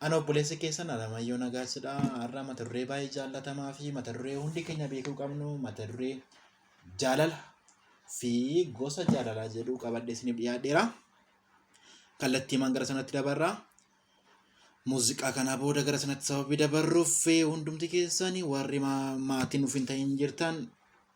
Ana obboleessa keessan Alamayyoo Nagaasidha. Har'a mata duree baay'ee jaallatamaa fi mata duree hundi keenya beekuu qabnu mata duree jaalala fi gosa jaalalaa jedhu qabadhee isiniif dhiyaadheera. Kallattiimaan gara sanatti dabarra. Muuziqaa kana booda gara sanatti sababii dabarruuf hundumti keessan warri maatiin nuuf hin ta'in jirtan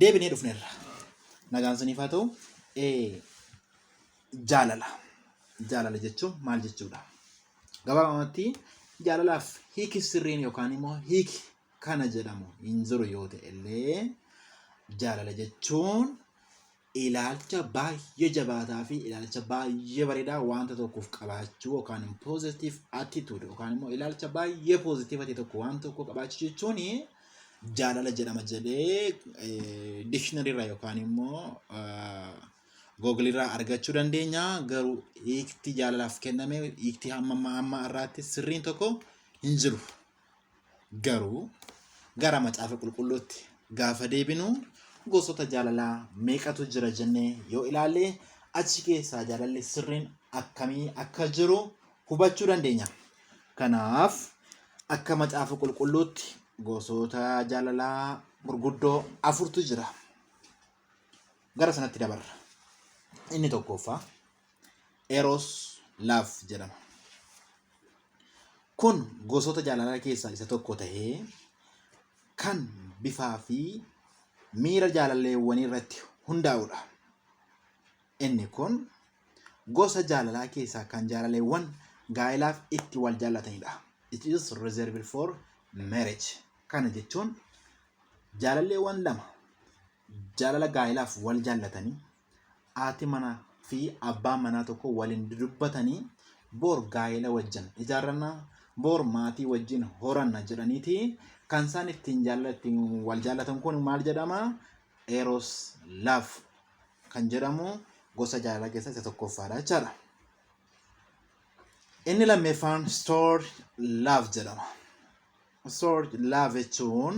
deebinee dhufneerra. Nagaan siniif haa ta'u. Jaalala. Jaalala jechuun maal jechuudha? Gabaabumatti jaalalaaf hiiki sirriin yookaan immoo hiiki kana jedhamu hin jiru yoo ta'e illee jaalala jechuun ilaalcha baay'ee jabaataa fi ilaalcha baay'ee bareedaa wanta tokkoof qabaachuu yookaan positive attitude yookaan immoo ilaalcha baay'ee positive ta'e tokko waan tokko qabaachuu jechuun jaalala jedhama jedhee dictionary irraa yookaan immoo Google irraa argachuu dandeenya. Garuu hiikti jaalalaaf kenname hiikti hamma ammaa ammaa irraatti sirriin tokko hin jiru. Garuu gara macaafa qulqulluutti gaafa deebinu gosoota jaalalaa meeqatu jira jennee yoo ilaalle achi keessaa jaalalli sirriin akkamii akka jiru hubachuu dandeenya. Kanaaf akka macaafa qulqulluutti gosoota jaalalaa gurguddoo afurtu jira. Gara sanatti dabarra. Inni tokkoffaa eros laaf jedhama. Kun gosoota jaalalaa keessaa isa tokko tahee kan bifaa fi miira jaalalleewwanii irratti hundaa'udha. Inni kun gosa jaalalaa keessaa kan jaalaleewwan gaa'elaaf itti wal jaallatanidha. It is reserved for marriage. Kana jechuun jaalalleewwan lama jaalala gaa'elaaf wal jaallatanii haati manaa fi abbaan manaa tokko waliin dudubbatanii boor gaa'ela wajjin ijaarranna boor maatii wajjin horanna jedhaniiti kan isaan ittiin jaalala ittiin wal jaallatan kun maal jedhama eros love kan jedhamu gosa jaalalaa keessaa isa tokkoffaadha jechaadha. Inni lammeeffaan store love jedhama. Store love jechuun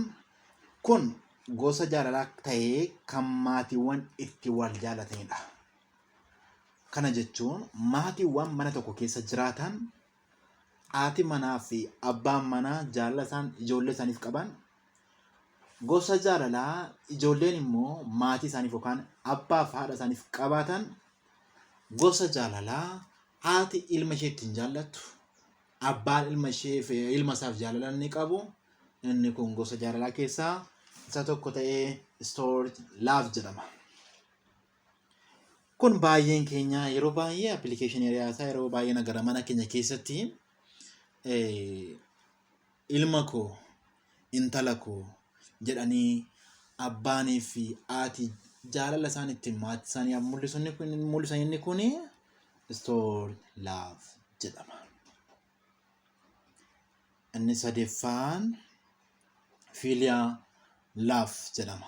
kun gosa jaalalaa ta'ee kan maatiiwwan itti wal jaalatanidha. Kana jechuun maatiiwwan mana tokko keessa jiraatan haati manaa fi abbaan manaa jaalala isaan ijoollee isaaniif qaban gosa jaalalaa ijoolleen immoo maatii isaaniif yookaan abbaa fi haadha isaaniif qabaatan gosa jaalalaa haati ilma ishee ittiin jaallattu abbaan ilma ishee fi ilma isaaf jaalala inni qabu inni kun gosa jaalalaa keessaa isa tokko ta'ee stored love jedhama. Kun baay'een keenya yeroo baay'ee appilikeeshinii riyaasaa yeroo baay'ee nagara mana keenya keessatti ilma koo intala koo jedhanii abbaanii fi haati jaalala isaan ittiin maatii isaanii mul'isan kun mul'isan inni kun istoor laaf jedhama. Inni sadeeffaan fiiliyaa laaf jedhama.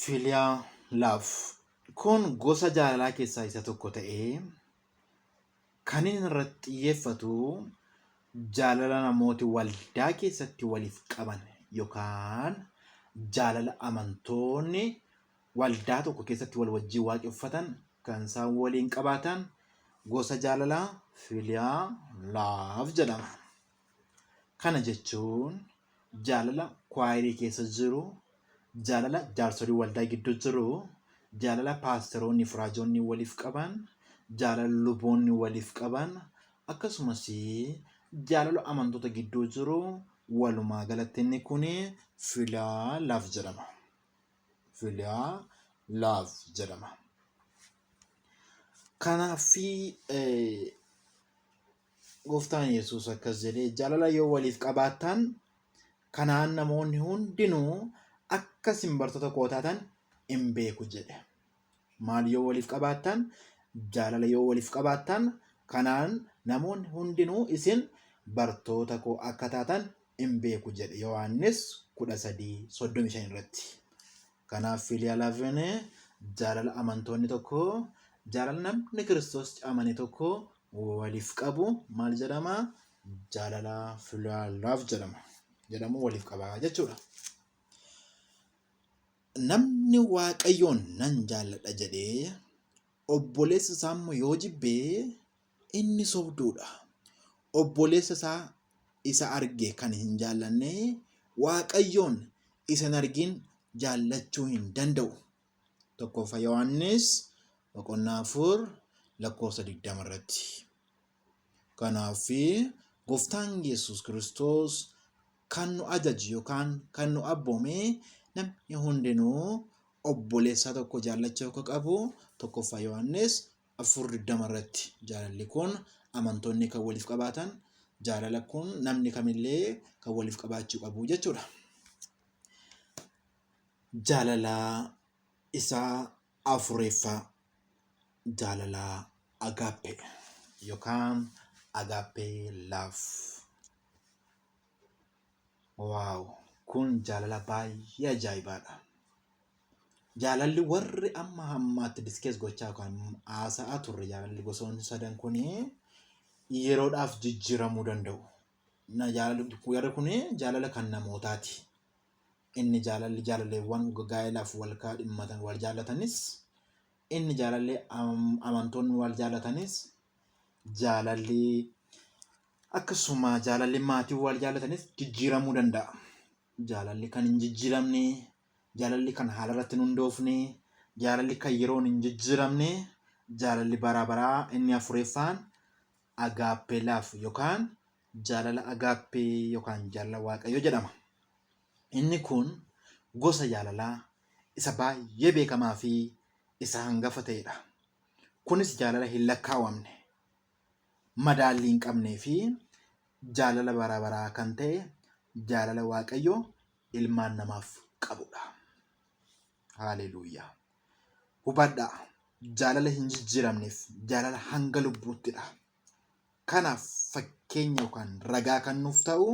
Filiyaa laaf. Kun gosa jaalalaa keessaa isa tokko ta'ee kan inni irratti xiyyeeffatu jaalala namooti waldaa keessatti waliif qaban yookaan jaalala amantoonni waldaa tokko keessatti wal wajjin waaqeffatan kan isaan waliin qabaatan gosa jaalalaa filiyaa laaf jedhama. Kana jechuun jaalala kwaayirii keessa jiru, jaalala jaarsolii waldaa gidduu jiru, jaalala paasteroonni fi raajoonni waliif qaban, jaalala luboonni waliif qaban, akkasumas jaalala amantoota gidduu jiru walumaa galatti inni kun filiyaa laaf jedhama. Filiyaa laaf jedhama. Kanaaf Gooftaan Yesuus akkas jedhee jaalala yoo waliif qabaattan kanaan namoonni hundinuu akka isin bartoota koo taatan in beeku jedhe. Maal yoo waliif qabaattan jaalala yoo waliif qabaattan kanaan namoonni hundinuu isin bartoota koo akka taatan in beeku jedhe Yohaannis 13:35 irratti. Kanaaf filia lavene jaalala amantoonni tokko jaalala namni Kiristoos amane tokko waliif qabu maal jedhama? Jaalala filia love jedhama. Jedhamu waliif qaba jechuudha. Namni Waaqayyoon nan jaalladha jedhee obboleessa isaa immoo yoo jibbee Inni sobduu dha. Obboleessa isaa isa arge kan hin jaallanne, Waaqayyoon isa hin argin jaallachuu hin danda'u. 1ffaa Yohaannis boqonnaa 4 lakkoofsa 20 irratti. Kanaaf gooftaan Yesuus Kiristoos kan nu ajaje yookaan kan nu abboome namni hundinuu obboleessaa tokko jaallachuu akka qabu 1ffaa Yohaannis afur digdama irratti jaalalli kun amantoonni kan waliif qabaatan jaalala kun namni kamillee kan waliif qabaachuu qabu jechuudha. Jaalala isaa afureeffaa jaalala agaappee yookaan agaappee laaf. Waaw kun jaalala baay'ee ajaa'ibaadha. Jaalalli warri amma hammaatti diskees gochaa yookaan haasa'aa turre jaalalli gosoonni sadan kun yeroodhaaf jijjiiramuu danda'u. Na jaalalli warri kun jaalala kan namootaati. Inni jaalalli jaalaleewwan gaa'elaaf wal kaadhimmatan wal jaalatanis inni jaalalli am- amantoonni wal jaalatanis jaalalli akkasuma jaalalli maatiin wal jaallatanis jijjiiramuu danda'a. Jaalalli kan hin jijjiiramne, jaalalli kan haala irratti hin hundoofne, jaalalli kan yeroon hin jijjiiramne, jaalalli bara baraa inni afureeffaan agaappee laaf yookaan jaalala agaappee yookaan jaalala waaqayyo jedhama. Inni kun gosa jaalalaa isa baay'ee beekamaa fi isa hangafa ta'edha. Kunis jaalala hin lakkaawamne, madaallii hin qabnee fi jaalala bara baraa kan ta'e jaalala Waaqayyo ilmaan namaaf qabudha. Haaleluuyaa! Hubadhaa, jaalala hin jijjiiramneef jaalala hanga lubbuuttidha. Kanaaf fakkeenya yookaan ragaa kan nuuf ta'u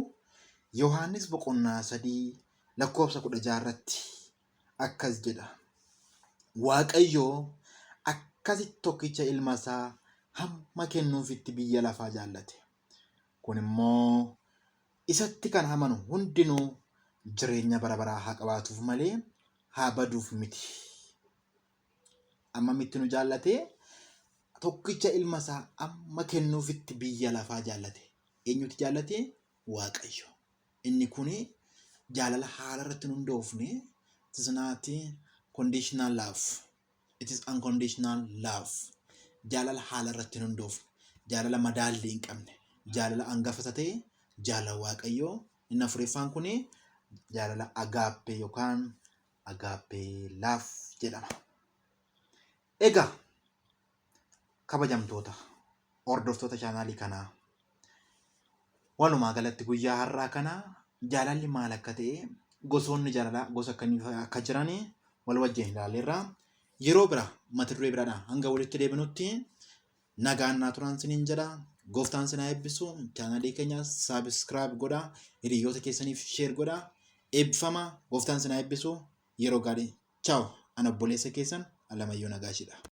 Yohaannis boqonnaa sadii lakkoofsa kudha jaha irratti akkas jedha, Waaqayyo akkasitti tokkicha ilma isaa hamma kennuufitti biyya lafaa jaallate. Kun immoo isatti kan amanu hundinuu jireenya bara baraa haa qabaatuuf malee haa baduuf miti. Amma mitti nu jaallate tokkicha ilma isaa amma kennuufitti biyya lafaa jaallate. Eenyuti jaallate? Waaqayyo. Inni kun jaalala haala irratti hin hundoofne, it is not conditional love, it is unconditional love. Jaalala haala irratti hin hundoofne, jaalala madaallii hin qabne, jaalala hangafa isa ta'e, jaalala Waaqayyoo. Inni afuriffaan kun jaalala agaappee yookaan agaappee laaf jedhama. Egaa kabajamtoota hordoftoota chaanaalii kanaa walumaa galatti guyyaa har'aa kana jaalalli maal akka ta'e gosoonni jaalalaa gosa akkamii akka jiran wal wajjin ilaalleerra yeroo bira mata duree biraadha hanga walitti deebinutti nagaan naa turaan siniin jedha gooftaan sinaa eebbisu chaanaalii keenya saabiskiraayib godha hiriyoota keessaniif sheer godha eebbifama gooftaan sinaa eebbisu yeroo gaarii chaaw ana obboleessa keessan alamayyoo nagaashidha.